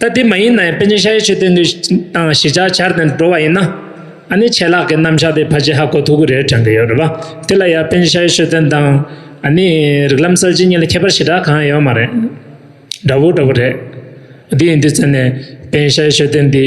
ད་དེ་མ་ཡིན་ན་ཡང་པཎ་ཆེན་ཤཱ་ཡེ་ཆོས་བསྟན་དུས་དང་གཞིས་ཆགས་ཆར་དང་འགྲོ་བ་ཡིན་ན། ཨ་ནི་ཆད་ལག་གི་རྣམ་གཞག་དེ་ཕ་ཆེ་ཧ་གོ་ཐུག་གི་རེད་དྲན་གི་ཡོད་རེད་བ། དེ་ལ་ཡང་པཎ་ཆེན་ཤཱ་ཡེ་ཆོས་བསྟན་དང། ཨ་ནི་རིགས་ལམ་གསར་བརྗེ་གཉིས་ལ་ཁྱད་པར་ཞེ་དྲག་གང་ཡང་ཡོད་མ་རེད། འདྲ་བོ་འདྲ་བོ་རེད། དེ་ཡིན་དུས་ཚོད་ནས་པཎ་ཆེན་ཤཱ་ཡེ་ཆོས་བསྟན་འདི།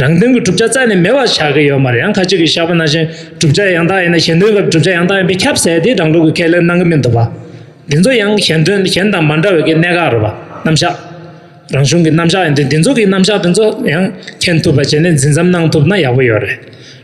རང་དོན་གྱི་བསྒྲུབ་བྱ་རྩ་ནས་མེད་པར་བཞག་གི་ཡོད་མ་རེད་ཡང་ཁ་ཅིག་གིས་བཞག་པ་ནང་བཞིན་བསྒྲུབ་བྱ་ཡང་དག་ཡིན་ན་གཞན་དོན་སྐབས་བསྒྲུབ་བྱ་ཡང་དག་ཡིན་པས་ཁྱབ་ཟེར་དེ་རང་ལུགས་ཀྱི་ཁས་ལེན་གནང་གི་མི་འདུག་པ། འདི་ཚོ་ཡང་གཞན་དོན་གཞན་དང་མ་འདྲ་བའི་གནད་འགག་རེད་པ། རྣམ་གཞག་རང་གཞུང་གི་རྣམ་གཞག་ཡིན་དུས་འདི་ཚོ་གི་རྣམ་གཞག་དེ་ཚོ་ཡང་མཁྱེན་ཐུབ་པ་བྱས་ནས་འཛིན་ཙམ་གནང་ཐུབ་ན་ཡག་པོ་ཡོད་རེད།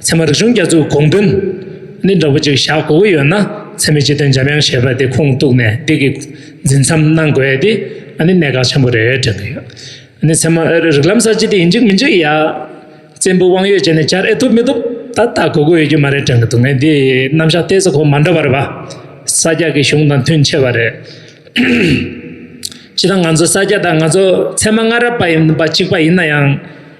ཚད་མ་རིག་གཞུང་རྒྱ་མཚོའི་དགོངས་དོན། ནི་འདྲ་པོ་ཅིག་བཞག་དགོས་ཀྱི་ཡོད་ན་ཚད་མའི་སྤྱི་དོན་འཇམ་དབྱངས་བཞད་པ་དེ་ཁུངས་གཏུགས་ནས་འདི་གི་འཛིན་མཚམས་གནང་དགོས་ཏེ་ཨ་ནི་གནད་འགག་ཆེན་པོ་རེད་དྲན་གྱི་ཡོད། ཨ་ནི་ཚད་མ་རིག་ལམ་གསར་བརྗེ་འདི་ཡིན་གཅིག་མིན་གཅིག་ཡ། བཙན་པོའི་དབང་ཡོད་བྱས་ནས་བསྐྱར་ཨེ་ཐུབ་མི་ཐུབ་ད་ལྟ་དགོས་མཁོ་ཡོད་ཀྱི་མ་རེད་དྲན་གྱི་འདུག་ངས་འདི་རྣམ་གཞག་ལྟས་ས་གོ་མ་འདྲ་བར་བ། ས་སྐྱ་ཀྱི་གཞུང་དང་མཐུན་ཆེ་བ་རེད། སྤྱི་དང་ང་ཚོ་ས་སྐྱ་དང་ང་ཚོ་ཚད་མ་སྔ་རབས་པ་ཡིན་པ་གཅིག་པ་ཡིན་ན་ཡང།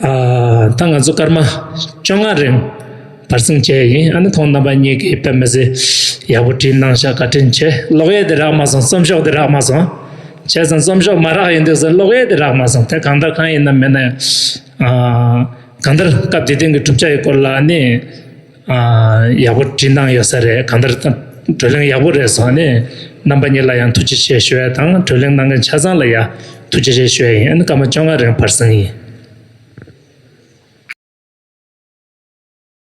ད་ང་ཚོ་སྐར་མ་བཅོ་ལྔ་རིང་བར་སྲུང་བྱས་ཡིན་ཨ་ནི་ཐོག་རྣམ་པ་གཉིས་ཀྱི་དཔེ་མི་ཟེ་ཡག་པོ་བྲིས་གནང་ཤག་བཀའ་དྲིན་ཆེ་གློག་གཡས་དེ་རག་མ་སོང་རྩོམ་ཤོག་དེ་རག་མ་སོང་བྱས་ཙང་རྩོམ་ཤོག་མ་རག་ཡིན་འདུག་ཟེར་གློག་གཡས་དེ་རག་མ་སོང་དེ་གང་འདྲ་གང་ཡིན་ནམ་མེད་ན་ཡང་གང་ལྟར་སྐབས་དེ་དེང་གི་གྲུབ་ཆ་ཡི་སྐོར་ལ་ནི། ཡག་པོ་བྲིས་གནང་ཡོད་ས་རེད་གང་ལྟར་བགྲོ་གླེང་ཡག་པོ་རེད་བཟོ་ནས་རྣམ་པ་གཉིས་ལ་ཡང་ཐུགས་རྗེ་ཆེ་ཞུ་བ་དང་བགྲོ་གླེང་གནང་མཁན་ཆ་ཚང་ལ་ཡང་ཐུགས་རྗེ་ཆེ་ཞུ་བ་ཡིན་ཨ་ནི་སྐར་མ་བཅོ་ལྔ་རིང་བར་གསེང་ཡིན།